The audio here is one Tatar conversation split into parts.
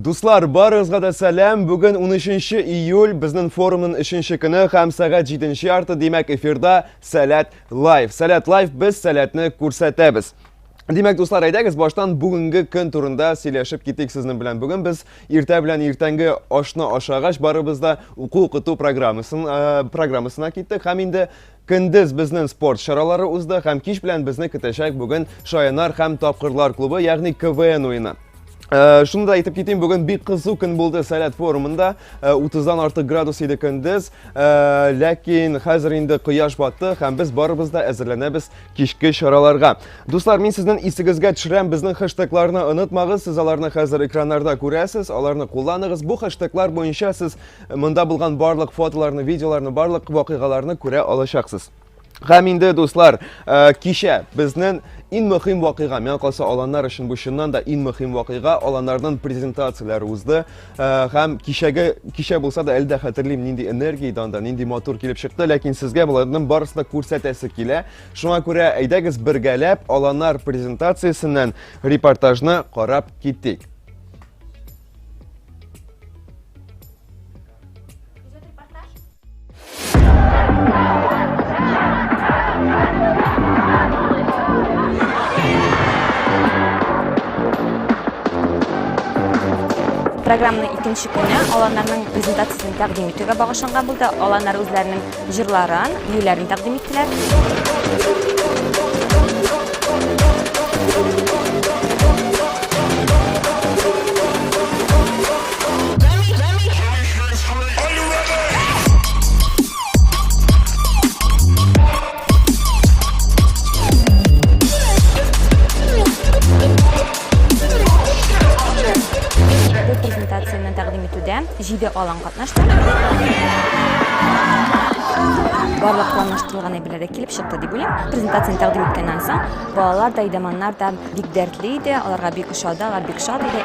Дуслар, барыгызга да сәлам. Бүген 13 июль безнең форумның 3 көне һәм сәгать 7 ярты, димәк, эфирда Сәләт лайв. Сәләт лайв без сәләтне күрсәтәбез. Димәк, дуслар, әйдәгез баштан бүгенге көн турында сөйләшеп китик сезнең белән. Бүген без иртә белән иртәнге ашны ашагач барыбыз да уку-укыту программасын программасына киттек һәм инде Көндез безнен спорт чаралары узды һәм кич белән безне көтәчәк бүген Шаянар һәм Тапкырлар клубы, ягъни КВН уены. Э, шуны да әйтеп китим, бүген бик кызу көн булды Сәләт форумында. 30-дан э, артык градус иде көндез, э, ләкин хәзер инде кояш батты һәм без барыбыз да әзерләнәбез кичке чараларга. Дуслар, мин сезнең исегезгә төшерәм, безнең хэштегларны онытмагыз, сез аларны хәзер экраннарда күрәсез, аларны кулланыгыз. Бу хэштеглар буенча сез Монда булган барлык фотоларны, видеоларны, барлык вакыйгаларны күрә алачаксыз. Һәм инде, дуслар, э, кичә безнен ин мөхим вакыйга, миңа калса аланнар өчен бу чыннан да ин мөхим вакыйга, аланнарның презентацияләре узды. Э, һәм кичәге кичә булса да әле дә хәтерлим, нинди энергия иде анда, нинди матур килеп чыкты, ләкин сезгә боларның барысын да күрсәтәсе килә. Шуңа күрә әйдәгез бергәләп аланнар презентациясеннән репортажны карап китик. Програмның икенче көне аланнарның презентациясен тәкъдим итүгә багышланган булды. Аланнар үзләренең җырларын, биюләрен тәкъдим иттеләр. Бу презентацияне тәкъдим итүдә җиде аланга Нәрсә? барлык планлаштырылган әйберләр дә килеп чыкты дип уйлыйм. Презентацияне тәкъдим иткәннән соң балалар да, идаманнар да бик дәртле иде, аларга бик ошады, алар бик шат иде.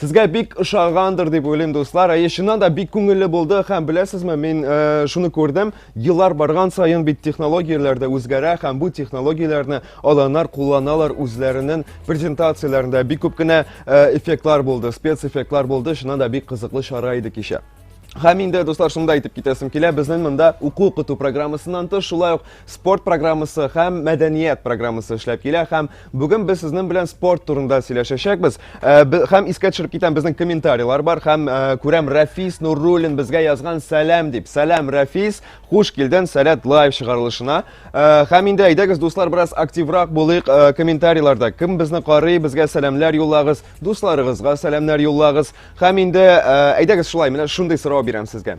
Сезгә бик ошагандыр дип уйлыйм, дуслар. Әйе, чыннан да бик күңелле булды һәм беләсезме, мин э, шуны күрдем. Еллар барган саен бит технологияләр дә үзгәрә һәм бу технологияләрне аланнар кулланалар үзләренең презентацияләрендә. Бик күп кенә э, эффектлар булды, спецэффектлар булды. Чыннан да бик кызыклы чара иде кичә. Һәм инде, дуслар, шунда әйтеп китәсем килә, безнең монда уку укыту программасыннан тыш, шулай ук спорт программасы һәм мәдәният программасы эшләп килә һәм Бүген без сезнең белән спорт турында сөйләшәчәкбез. Э, һәм искә төшереп китәм, безнең комментарийлар бар һәм э, күрәм Рафис Нуруллин безгә язган сәлам дип. Сәлам Рафис, хуш килден Сәләт лайв чыгарылышына. Э, һәм инде әйдәгез дуслар бераз активрак булыйк комментарийларда. Кем безне карый, безгә сәламләр юллагыз, дусларыгызга сәламнәр юллагыз. Һәм инде әйдәгез шулай, менә шундый сорау бирәм сезгә.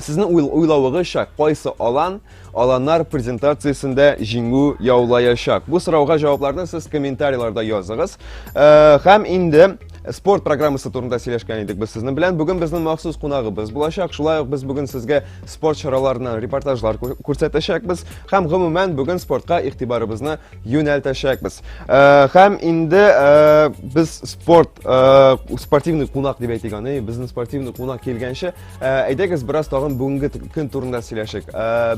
Сезнең уйл уйлавыгызча, кайсы алан аланнар презентациясендә җиңү яулаячак? Бу сорауга җавапларны сез комментарийларда языгыз. Э, һәм инде спорт программасы турында сөйләшкән идек без сезнең белән. Бүген безнең махсус кунагыбыз булачак. Шулай ук без бүген сезгә спорт чараларыннан репортажлар күрсәтәчәкбез һәм гомумән бүген спортка игътибарыбызны юнәлтәчәкбез. Э, һәм инде э, без спорт э, спортивный кунак дип әйтик аны. Безнең спортивный кунак килгәнче Әйдәгез бераз тагын бүгенге көн турында сөйләшик.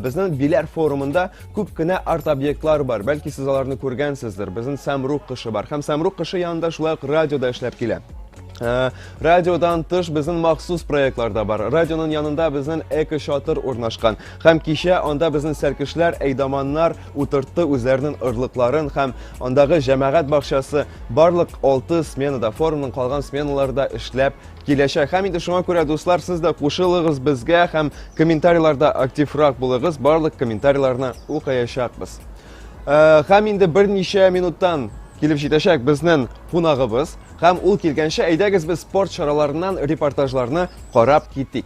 Безнең Биләр форумында күп кенә арт-объектлар бар. Бәлки сез аларны күргәнсездер. Безнең Самрук кышы бар. Һәм Самрук кышы янында шулай ук радио да эшләп килә. Э, радиодан тыш безнең махсус проектлар да бар. Радионың янында безнең эко шатыр урнашкан. Һәм кичә анда безнең сәркешләр, әйдаманнар утыртты үзләренең ырлыкларын һәм андагы җәмәгать бакчасы барлык 6 сменада, форумның калган сменаларда эшләп Киләчәк. Һәм инде шуңа күрә, дуслар, сез дә кушылыгыз безгә һәм комментарийларда активрак булыгыз. Барлык комментарийларны укыячакбыз. Э, һәм инде берничә минуттан килеп җитәчәк безнең кунагыбыз һәм ул килгәнчә әйдәгез без спорт чараларыннан репортажларны карап китик.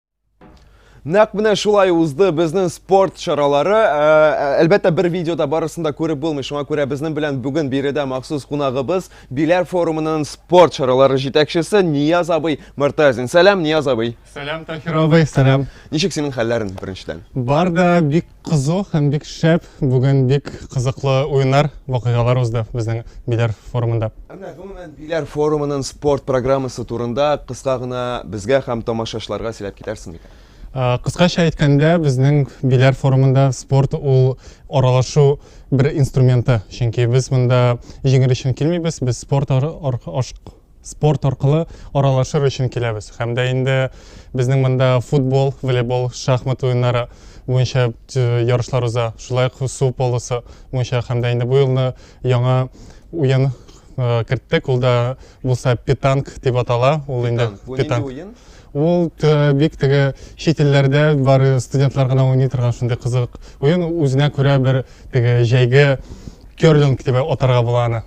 Нәкъ менә шулай узды безнең спорт чаралары. Әлбәттә, бер видеода барысын да күреп булмый. Шуңа күрә безнең белән бүген биредә махсус кунагыбыз Биләр форумының спорт чаралары җитәкчесе Нияз абый Мортазин. Сәлам, Нияз абый. Сәлам, Таһир абый. Сәлам. Ничек синең хәлләрең беренчедән? Бар да бик Кызу һәм бик шәп, бүген бик кызыклы уеннар, вакыйгалар узды безнең Биләр форумында. Әмма гомумән Биләр форумының спорт программасы турында кыска гына безгә һәм тамашачыларга сөйләп китәрсең микән? Кыскача әйткәндә, безнең Биләр форумында спорт ул аралашу бер инструменты, чөнки без монда җиңел өчен килмибез, без спорт спорт аркылы аралашыр өчен киләбез. Һәм дә инде безнең монда футбол, волейбол, шахмат уеннары буенча э, ярышлар уза. Шулай ук су полосы буенча һәм дә инде бу елны яңа уен э, керттек. Ул да булса питанг дип атала. Ул инде питанг. Ул э, бик теге чит илләрдә бар студентлар гына уйный торган шундый кызык уен. Үзенә күрә бер теге җәйге керлинг дип атарга була аны.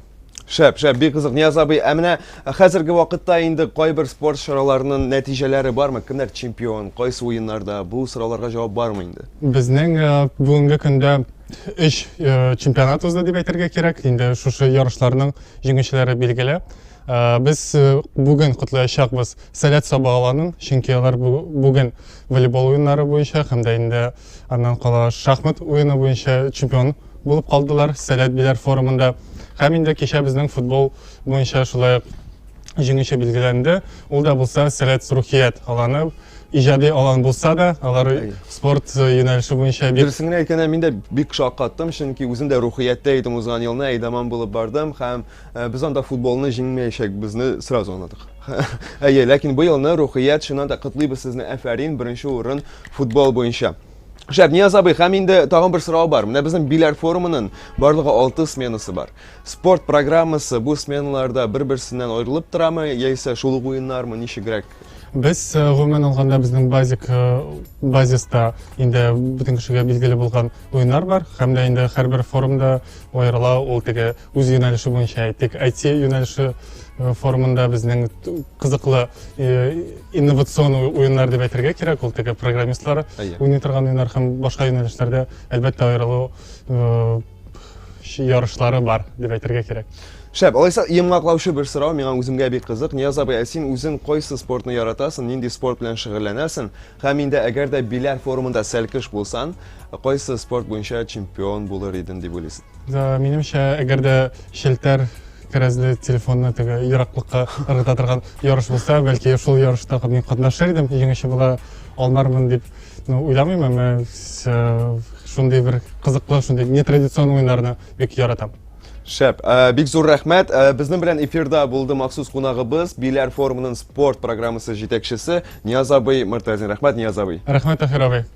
Шәп, шәп, бик кызык, Нияз абый. Ә менә хәзерге вакытта инде кайбер спорт чараларының нәтиҗәләре бармы? Кемнәр чемпион, кайсы уеннарда? Бу сорауларга җавап бармы инде? Безнең э, бүгенге көндә өч э, чемпионат узды дип әйтергә кирәк. Инде шушы ярышларның җиңүчеләре билгеле. Э, без бүген котлаячакбыз Сәләт Саба аланын, чөнки алар бүген волейбол уеннары буенча һәм дә инде аннан кала шахмат уены буенча чемпион булып калдылар Сәләт Биләр форумында. Һәм инде кичә безнең футбол буенча шулай ук җиңүче билгеләнде. Ул да булса Сәләт Рухият аланы иҗади алан булса да, алар спорт э, юнәлеше буенча бик... Дөресен генә әйткәндә, мин дә бик шаккаттым, чөнки үзем дә рухияттә идем узган елны, әйдаман булып бардым һәм э, без анда футболны җиңмәячәкбезне сразу аңладык. Әйе, ләкин быелны рухият чыннан да котлыйбыз сезне, әфәрин, беренче урын футбол буенча. Шәп, Нияз абый, һәм инде тагын бер сорау бар. Менә безнең Биләр форумының барлыгы 6 сменасы бар. Спорт программасы бу сменаларда бер-берсеннән аерылып торамы, яисә шул ук уеннармы, ничегрәк? Без э, гомумән алганда безнең базик э, базиста инде бөтен кешегә билгеле булган уеннар бар, һәм дә инде һәрбер форумда аерыла ул теге үз юнәлеше буенча әйтик айти юнәлеше э, формында безнең кызыклы э, инновацион уеннар дип әйтергә кирәк ул теге программистлар уйный торган уеннар һәм башка юнәлешләрдә әлбәттә аерылу э, ярышлары бар дип әйтергә кирәк Шәп, алайса йомгаклаучы бер сорау миңа үземгә бик кызык. Нияз абый, ә син үзең кайсы спортны яратасың, нинди спорт белән шөгыльләнәсең? Һәм инде әгәр дә Биләр форумында сәлкеш булсан, кайсы спорт буенча чемпион булыр иден дип уйлыйсың? Минемчә, әгәр дә челтәр кәрәзле телефонны теге ераклыкка ыргыта торган ярыш булса, бәлки шул ярышта мин катнашыр идем, җиңүче була алмармын дип ну, уйламыйм, әмма шундый бер кызыклы, шундый нетрадицион уеннарны бик яратам. Шәп. Ә, бик зур рәхмәт. Ә, безнең белән эфирда булды махсус кунагыбыз, Биләр форумының спорт программасы җитәкчесе Нияз абый Мортазин. Рәхмәт, Нияз абый. Рәхмәт, Таһир абый.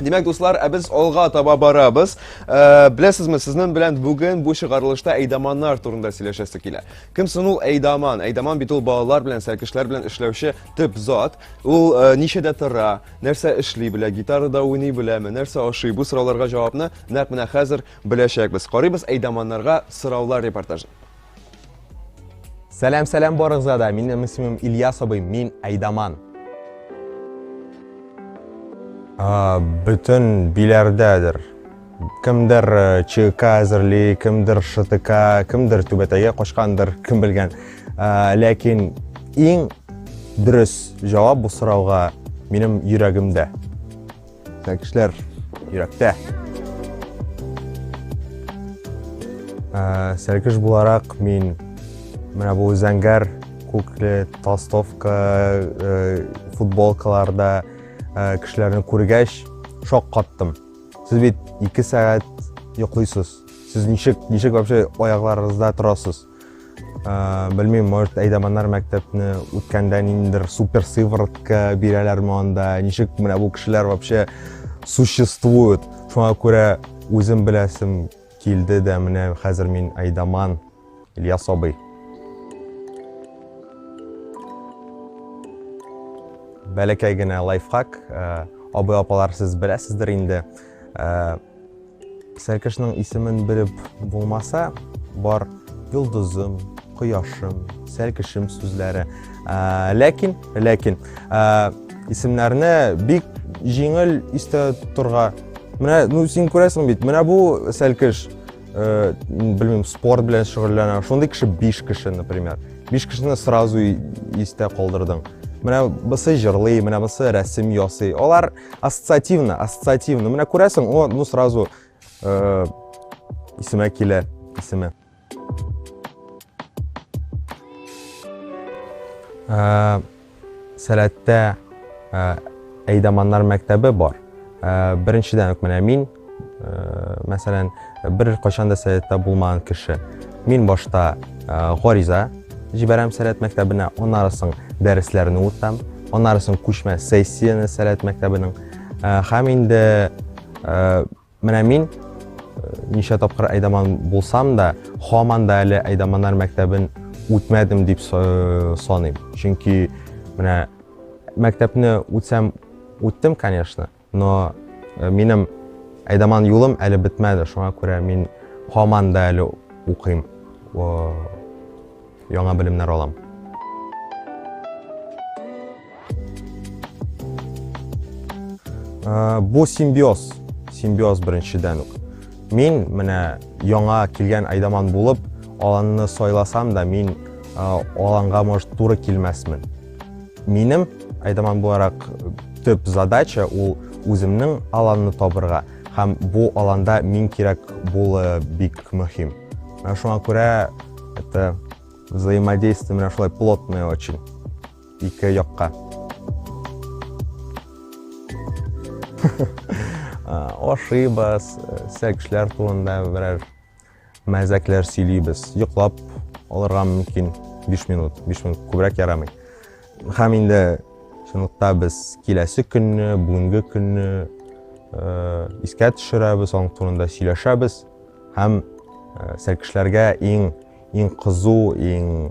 Димәк, дуслар, ә без алга таба барабыз. Ә, беләсезме, сезнең белән бүген бу чыгарылышта әйдаманнар турында сөйләшәсе килә. Кем соң ул әйдаман? Әйдаман бит ул балалар белән, сәркешләр белән эшләүче төп зат. Ул ә, ничәдә тора, нәрсә эшли белә, гитарада уйный беләме, нәрсә ашый? Бу сорауларга җавапны нәкъ менә хәзер Беләчәкбез. Карыйбыз әйдаманнарга сораулар репортажы. Сәлам, сәлам барыгызга да. Минем исемем Ильяс абый, мин әйдаман. А, бөтен биләрдәдер. Кемдер э, ЧК әзерли, кемдер ШТК, кемдер түбәтәйгә качкандыр, кем белгән. А, ләкин иң дөрес җавап бу сорауга минем йөрәгемдә. Тәкешләр йөрәктә. Ә, Сәркеш буларак мин менә бу зәңгәр күкле толстовка э, футболкаларда э, кешеләрне күргәч шок каттым. Сез бит 2 сәгать йоклыйсыз. Сез ничек ничек вообще аякларыгызда торасыз? белмим может әйдаманнар мәктәпне үткәндә ниндидер супер сыворотка бирәләрме анда ничек менә бу кешеләр вообще существует шуңа күрә үзем беләсем килде дә менә хәзер мин әйдаман ильяс абый бәләкәй генә лайфхак абый апалар сез беләсездер инде Сәркешнең исемен белеп булмаса, бар йолдызым, кояшым, сәркешем сүзләре. Ләкин, ләкин, исемнәрне бик җиңел истә торга. Менә, ну, син күрәсең бит, менә бу сәркеш, э, белмим, спорт белән шөгыльләнә. Шундый кеше 5 кеше, например. 5 кешене сразу истә калдырдың. Менә бусы җырлый, менә бусы рәсем ясый. Алар ассоциативно ассоциативно менә күрәсең о ну сразу э, исемә килә исеме э, сәләттә э, әйдаманнар мәктәбе бар э, беренчедән үк менә мин Мәсәлән, бер кайчан да сәләттә булмаган кеше. Мин башта гариза җибәрәм сәләт мәктәбенә, аннары соң дәресләрне үтәм, аннары соң күчмә сессияне сәләт мәктәбенең. Һәм инде менә мин ничә тапкыр әйдаман булсам да, хаман да әле әйдаманнар мәктәбен үтмәдем дип саныйм. Чөнки менә мәктәпне үтсәм үттем, конечно, Но минем әйдаман юлым әле бетмәде, шуңа күрә мин һаман да әле укыйм, яңа белемнәр алам. Бу симбиоз, симбиоз беренчедән үк. Мин менә яңа килгән айдаман булып, аланны сайласам да, мин аланга, может, туры килмәсмен. Минем, айтаман буларак, төп задача ул үземнең аланны табырга һәм бу аланда мин кирәк булы бик мөһим. Менә шуңа күрә это взаимодействие менә шулай плотное очень ике якка. Ошибас, сәкшләр турында берәр Мәзәкләр сөйлибез. Йоклап алырга мөмкин 5 минут. 5 минут күбрәк ярамый. Һәм инде чынлыкта без киләсе көнне, бүгенге көнне э, искә төшерәбез, аның турында сөйләшәбез һәм э, сәркешләргә иң иң кызу, иң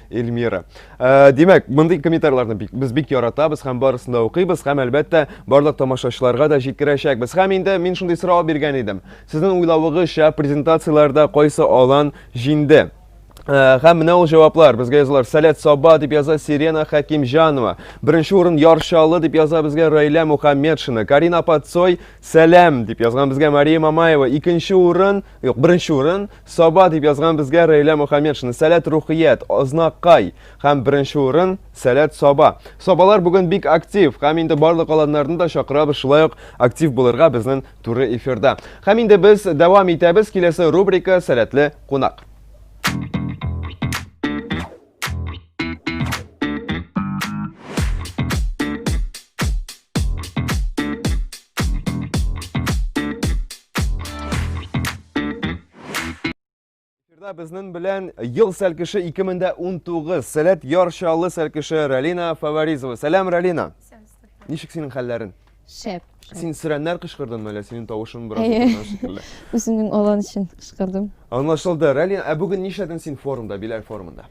Эльмира. Ә, димәк, мондый комментарийларны бик, без бик яратабыз һәм барысын да укыйбыз һәм әлбәттә барлык тамашачыларга да җиткерәчәкбез. Һәм инде мин шундый сорау биргән идем. Сезнең уйлавыгызча презентацияләрдә кайсы алан җинде? Э, һәм менә ул җаваплар безгә язалар сәләт саба дип яза сирена хәкимҗанова беренче урын яршалы дип яза безгә раилә мухаммедшина карина пацой сәләм дип язган безгә мария мамаева икенче урын юк беренче урын Саба дип язган безгә Рәйлә Мөхәммедшина. Сәләт рухият, ознакай һәм беренче урын Сәләт Саба. Сабалар бүген бик актив һәм инде барлык аланнарны да чакырабыз шулай ук актив булырга безнең туры эфирда. Һәм инде без дәвам итәбез киләсе рубрика Сәләтле кунак. Эфирда безнең белән ел сәлкеше 2019 Сәләт яр чаллы сәлкеше Ралина Фаваризова. Сәлам, Ралина. Ничек синең хәлләрең? Шәп. Син сөрәннәр кычкырдыңмы әллә синең тавышың бераз Әйе. утырган шикелле? Үземнең алан өчен кычкырдым. Аңлашылды. Рәлия, ә бүген нишләдең син форумда, Биләр форумында?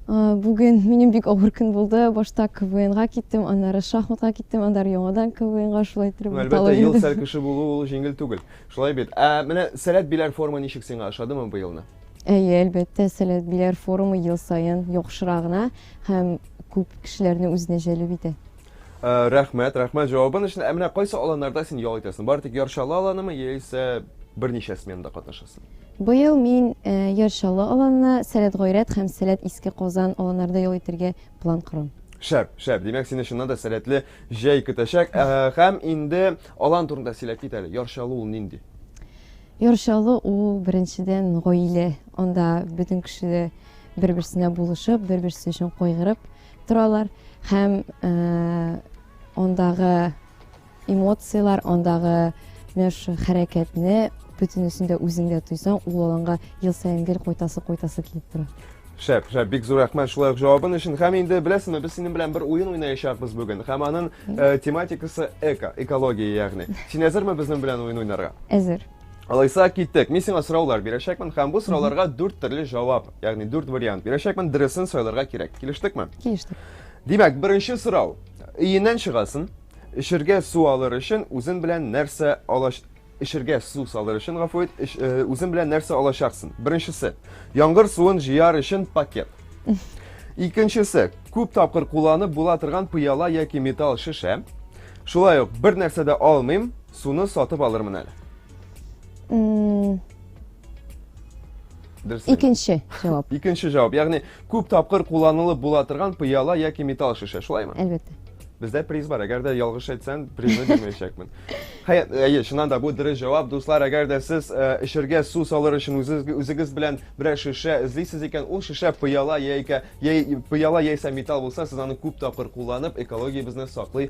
А, Бүген минем бик авыр көн булды. Башта КВНга киттем, аннары шахматка киттем, аннары яңадан КВНга шулай иттереп Ну, урталып әлбәттә, ел йөрдем. сәл кеше булу ул җиңел түгел. Шулай бит. Ә менә Сәләт Биләр форумы ничек сиңа ошадымы бу елны? Әйе, әлбәттә, Сәләт Биләр форумы ел саен яхшырагына һәм күп кешеләрне үзенә җәлеп итә. Э, рәхмәт, рәхмәт җавабың өчен. Ә менә кайсы аланнарда син ял итәсең? Бары тик Яршалы аланымы яисә берничә сменада катнашасың? Быел мин э, Яршалы аланына, Сәләт Гайрәт һәм Сәләт Иске Казан аланнарда ял итәргә план корам. Шәп, шәп. Димәк, сине чыннан да сәләтле җәй көтәчәк. Э, һәм инде алан турында сөйләп кит әле. Яршалы ул нинди? Яршалы ул беренчедән гаилә. Анда бөтен кеше бер-берсенә булышып, бер-берсе өчен кайгырып, торалар һәм андагы эмоцияләр, андагы менә шул хәрәкәтне бөтенесен дә үзеңдә тойсаң, ул аланга ел саен гел кайтасы, кайтасы килеп тора. Шәп, шәп, бик зур рәхмәт шулай ук җавабын өчен. Һәм инде беләсеңме, без синең белән бер уен уйнаячакбыз бүген. Һәм аның э, тематикасы эко, экология ягъни. Син әзерме безнең белән уен уйнарга? Әзер. Алайса киттек. Мин сиңа сораулар бирәчәкмен һәм бу сорауларга дүрт төрле җавап, ягъни дүрт вариант бирәчәкмен, дөресен сайларга кирәк. Килештекме? Килештек. Димәк, беренче сорау. Өеннән чыгасын, эчергә су алыр өчен үзен белән нәрсә алаш эчергә су салыр өчен гафу ит, э, үзен белән нәрсә алачаксын? Беренчесе, яңгыр суын җыяр өчен пакет. Икенчесе, күп тапкыр кулланып була торган пыяла яки металл шешә. Шулай ук бер нәрсә дә алмыйм, Суны сатып алырмын әле. М, Дөрес. әйт. Икенче җавап. Икенче җавап, ягъни күп тапкыр кулланылып була торган пыяла яки металл шешә, шулаймы? Әлбәттә. Бездә приз бар, әгәр дә ялгыш әйтсәң, призны бирмәячәкмен. Хәя, әйе, чыннан да бу дөрес җавап. Дуслар, әгәр дә сез э, эчергә су салыр өчен үзегез, үзегез белән берәр шешә эзлисез икән, ул шешә пыяла яисә яи, пыяла яисә металл булса, сез аны күп тапкыр кулланып, экологиябезне саклый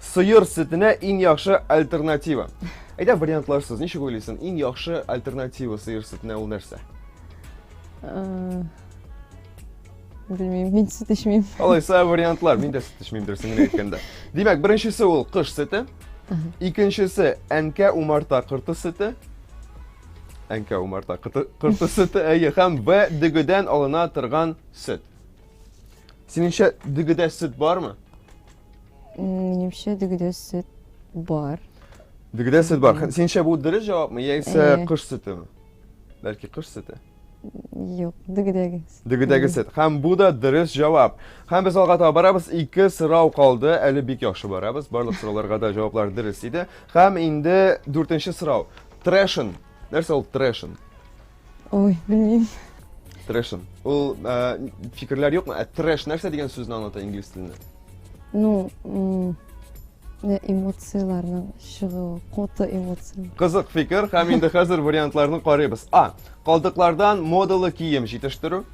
Сыер сөтенә иң яхшы альтернатива. Әйдә вариантларсыз, ничек уйлыйсың, иң яхшы альтернатива сыер сөтенә ул нәрсә? Э, Белмим, мин сөт эчмим. Алайса вариантлар, мин дә сөт эчмим дөресен генә әйткәндә. Димәк, беренчесе ул кыш сөте, икенчесе әнкә умарта кырты сөте, әнкә умарта кырты, кырты сөте, әйе, һәм Б дөгедән алына торган сөт. Синеңчә дөгедә сөт бармы? Минемчә дөгедә сөт бар. Дөгедә сөт бар. Синчә бу дөрес җавапмы яисә кыш сөтеме? Бәлки кыш сөте? Юк, дөгедәге. Дөгедәге сөт. Һәм бу да дөрес җавап. Һәм без алга таба барабыз. Ике сорау калды. Әле бик яхшы барабыз. Барлык сорауларга да җаваплар дөрес иде. Һәм инде дүртенче сорау. Трэшен. Нәрсә ул трэшен? Ой, белмим. Трэшем. Ул э, фикерләр юкмы? Ә трэш нәрсә дигән сүзне аңлата инглиз телендә? Ну, э, эмоцияләрнең чыгуы, коты эмоция. Кызык фикер, һәм инде хәзер вариантларны карыйбыз. А. Калдыклардан модалы кием җитештерү.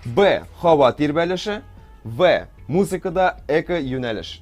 Б. Һава тирбәлеше. В. Музыкада эко юнәлеш.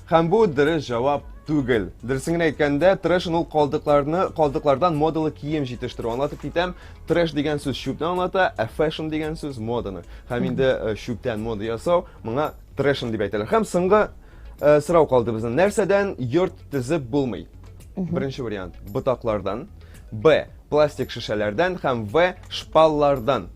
Һәм бу дөрес җавап түгел. Дөресен генә әйткәндә, трэшен ул калдыкларны, калдыклардан модалы кием җитештерү. Аңлатып китәм, трэш дигән сүз чүпне аңлата, ә фэшн дигән сүз моданы. Һәм инде э, чүптән мода ясау, моңа трэшен дип әйтәләр. Һәм соңгы э, сорау калды безнең. Нәрсәдән йорт төзеп булмый? Беренче вариант ботаклардан, Б пластик шешәләрдән һәм В шпаллардан.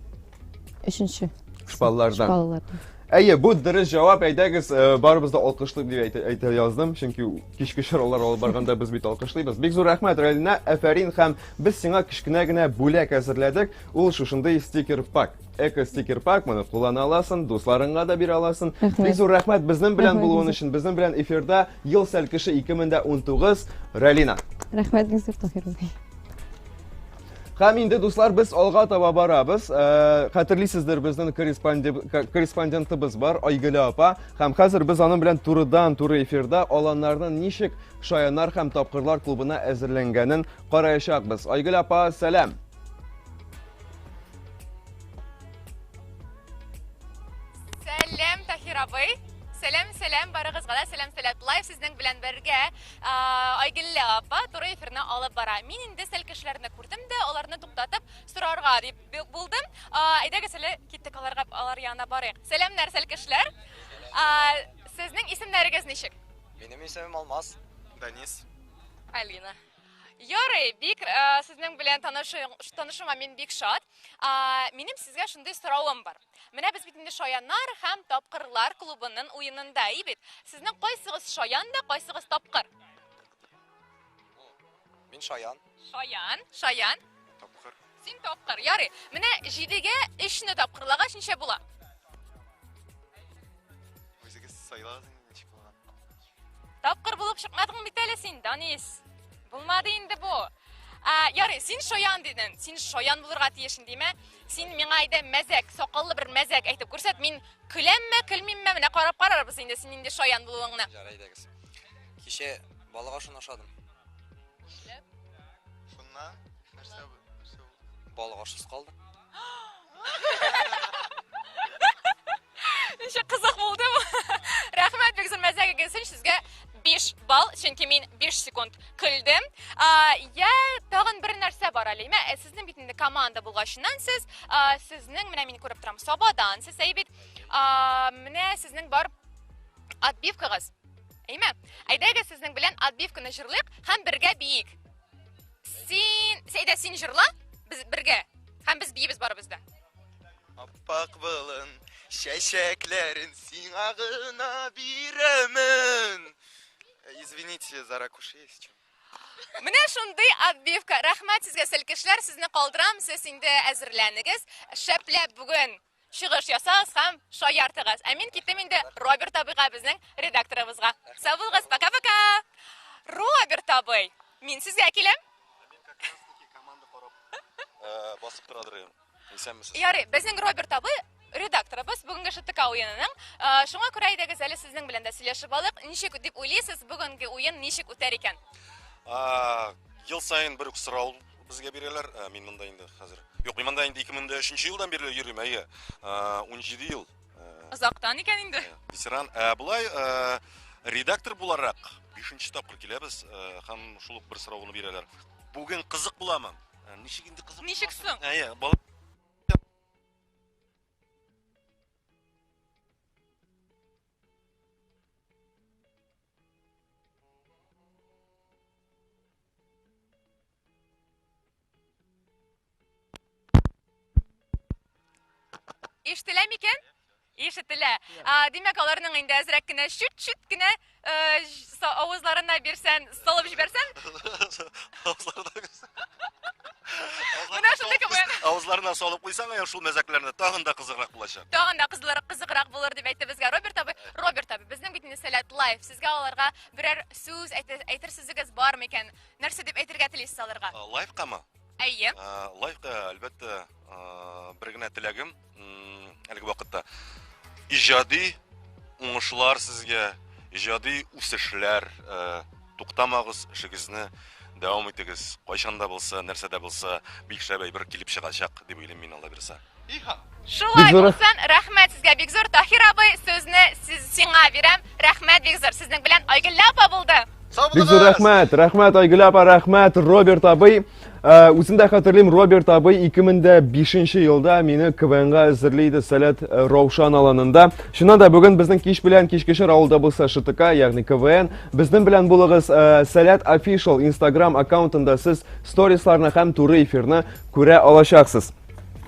Өченче. Шпаллардан. Шпаллардан. Әйе, бу дөрес җавап. Әйдәгез, э, барыбыз да алкышлыйк дип әйтә, әйтә яздым, чөнки кичке чаралар алып барганда без бит алкышлыйбыз. Бик зур рәхмәт, Рәлинә, әфәрин һәм без сиңа кечкенә генә бүләк әзерләдек. Ул шушындый стикер пак. Эко стикер пак, моны куллана аласың, дусларыңа да бирә аласың. Рәхмәт. Бик зур рәхмәт безнең белән Рәхмәт, булуың Юсуф. өчен. Безнең белән эфирда ел сәлкеше 2019 Рәлинә. Рәхмәт, Юсуф Таһирович. Һәм инде, дуслар, без алга таба барабыз. Э, хәтерлисездер, безнең корреспондентыбыз бар, Айгөлә апа. Һәм хәзер без аның белән турыдан туры эфирда аланнарның ничек шаянар һәм тапкырлар клубына әзерләнгәнен караячакбыз. Айгөлә апа, сәлам. Сәлам, Тахир абый. Сәлам, сәлам, барыгызга да сәлам, сәлам. Лайв сезнең белән бергә. Айгеллә апа туры эфирны алып бара. Мин инде сәл кешеләрне күрдем дә, аларны туктатып сорарга дип бу- булдым. А, Әйдәгез әле киттек аларга, алар янына барыйк. Сәламнәр, сәл кешеләр. А, Сезнең исемнәрегез ничек? Минем исемем Алмаз. Данис. Алина. Ярый, бик э, сезнең белән танышу, танышуыма мин бик шат. А, минем сезгә шундый соравым бар. Менә без бит инде Шаяннар һәм Тапкырлар клубының уенында, и бит. Сезнең кайсыгыз Шаян да, кайсыгыз Тапкыр? Мин Шаян. Шаян, Шаян. Тапкыр. Син Тапкыр. Ярый. Менә 7-гә 3-не тапкырлагач ничә була? Үзегез сайлагыз инде ничек булган. Тапкыр булып чыкмадың бит әле син, Данис. Булмады инде бу. Ә, ярый, син шаян дидең. Син шаян булырга тиешен димә. Син миңа әйдә мәзәк, сакаллы бер мәзәк әйтеп күрсәт. Мин көләмме, көлмимме, менә карап карарбыз инде син инде шаян булуыңны. Ярый, әйдәгез. Кичә балык ашын ашадым. Шуннан нәрсә нәрсә булды? Балык ашсыз калдым. Ничек кызык булды бу. Рәхмәт, бик зур мәзәгегез өчен сезгә 5 балл, чөнки мин 5 секунд көлдем. Я тагын бер нәрсә бар әле. Мә, э, сезнең бит инде команда булгачыннан сез, сезнең менә мин күреп торам, Сабадан, сез әйбит. Менә сезнең бар отбивкагыз. Әйме? Әйдәгез сезнең белән отбивканы җырлыйк һәм бергә биик. Син, Сәйдә, син җырла, без бергә. Һәм без биебез барыбыз да. Аппак былын, чәчәкләрен сиңа гына бирәмен. Э, извините за ракуши, если что. Менә шундый отбивка. Рәхмәт сезгә, селкешләр, сезне калдырам. Сез инде әзерләнегез. Шәпләп бүген Чыгыш ясагыз һәм шаяртыгыз. Ә мин киттем инде Роберт абыйга, безнең редакторыбызга. Сау булыгыз, пока-пока! Роберт абый, мин сезгә киләм. Э, басып торадыр ем. Исәнмесез. Ярый, безнең Роберт абый редакторыбыз бүгенге ШТК уенының. Э, шуңа күрә әйдәгез әле сезнең белән дә сөйләшеп алыйк. Ничек дип уйлыйсыз, бүгенге уен ничек үтәр икән? Э, ел саен бер үк сорау Безгә бирәләр, ә, мин монда инде хәзер. Юк, мин монда инде 2003 елдан бирле йөрим, әйе. Ә, 17 ел. Ә, Озактан икән инде. Ә, ветеран. Ә, болай, ә, редактор буларак 5 тапкыр киләбез, ә, һәм шул ук бер сорауны бирәләр. Бүген кызык буламы? Ә, ничек инде кызык? Ничек соң? Әйе, бала Ишетелә микән? Ишетелә. Димәк, аларның инде әзрәк кенә чүт-чүт кенә авызларына бирсән, Салып җибәрсәм? Авызларына Менә шундый квн. Авызларына салып куйсаң, я шул мәзәкләрне тагын да кызыграк булачак. Тагын да кызлар кызыграк булыр дип әйтте безгә Роберт абый. Роберт абый, безнең бит инде сәләт лайф. Сезгә аларга берәр сүз әйтер сүзегез бар микән? Нәрсә дип әйтергә телисез аларга? Лайфкамы? Әйе. Лайфка, әлбәттә, бер генә теләгем. әлеге вакытта иҗади уңышлар сезгә иҗади үсешләр э, туктамагыз эшегезне дәвам итегез кайчан да булса нәрсә дә булса бик шәп әйбер килеп чыгачак дип уйлыйм мин алла бирса шулай булсын рәхмәт сезгә бик зур тахир абый сүзне сиңа бирәм Рәхмәт, бик зур. Сезнең белән Айгөллә апа булды. Бик зур рәхмәт, рәхмәт Айгөл апа, рәхмәт Роберт абый. Э, үзем дә хәтерлим, Роберт абый 2005 елда мине КВНга әзерли иде Сәләт э, Раушан аланында. Шуннан да бүген безнең кич белән кичкешер авылда булса ШТК, ягъни КВН. Безнең белән булыгыз э, Сәләт Official Instagram аккаунтында сез сторисларны һәм туры эфирны күрә алачаксыз.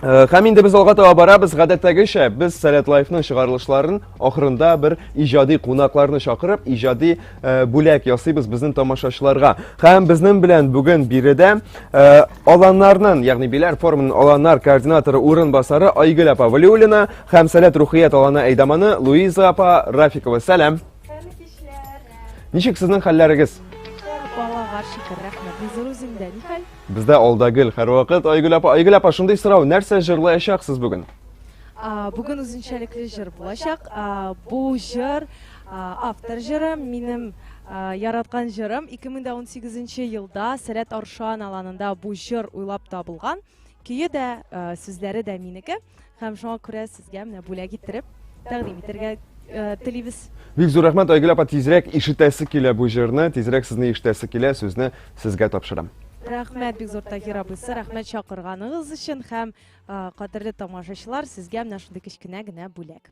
Э, һәм инде без алга таба барабыз, гадәттәгечә, без Сәләт Лайфның чыгарылышларын ахырында бер иҗади кунакларны чакырып, иҗади э, бүләк ясыйбыз безнең тамашачыларга. Һәм безнең белән бүген биредә э, аланнарның, ягъни Биләр форумының аланнар координаторы урынбасары Айгөл апа Валиуллина һәм Сәләт рухият аланы әйдаманы Луиза апа Рафикова. Сәлам. Ничек сезнең хәлләрегез? Балага шикер рәхмәт. Үзегез үзендә ни хәл? Бездә алда гел һәрвакыт Айгөл апа, Айгөл апа, шундый сорау, нәрсә җырлаячаксыз бүген? Бүген үзенчәлекле җыр булачак. Бу җыр автор җыры, минем яраткан җырым. 2018 елда Сәләт Аршан аланында бу җыр уйлап табылган. Көе дә, сүзләре дә минеке. Һәм шуңа күрә сезгә менә бүләк иттереп тәкъдим итәргә э, телибез. Бик зур рәхмәт, Айгөл апа, тизрәк ишетәсе килә бу җырны, тизрәк сезне ишетәсе килә, сүзне сезгә тапшырам. Рәхмәт бик зур Таһир абыйсы, рәхмәт чакырганыгыз өчен һәм э, кадерле тамашачылар, сезгә менә шундый кечкенә генә бүләк.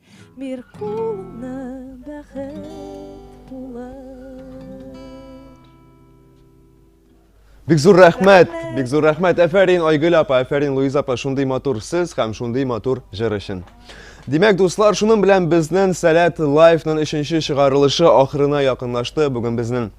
Бир кулыңны бәхет булыр. Бик зур рәхмәт, бик зур рәхмәт. Әфәрин Айгөл апа, әфәрин Луиза апа, шундый матур сез һәм шундый матур җыр өчен. Димәк, дуслар, шуның белән безнең Сәләт лайфның өченче чыгарылышы ахырына якынлашты. Бүген безнең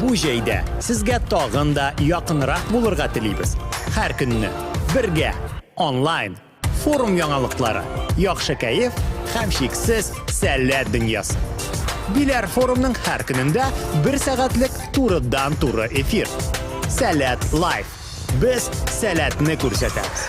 Бу җәйдә сезгә тагын да якынрак булырга телибез. Һәр көнне бергә! Онлайн, форум яңалыклары, яхшы кәеф һәм чиксез сәләт дөньясы. Биләр форумның һәр көнендә бер сәгатьлек турыдан-туры эфир. Сәләт Лайф. Без сәләтне күрсәтәбез.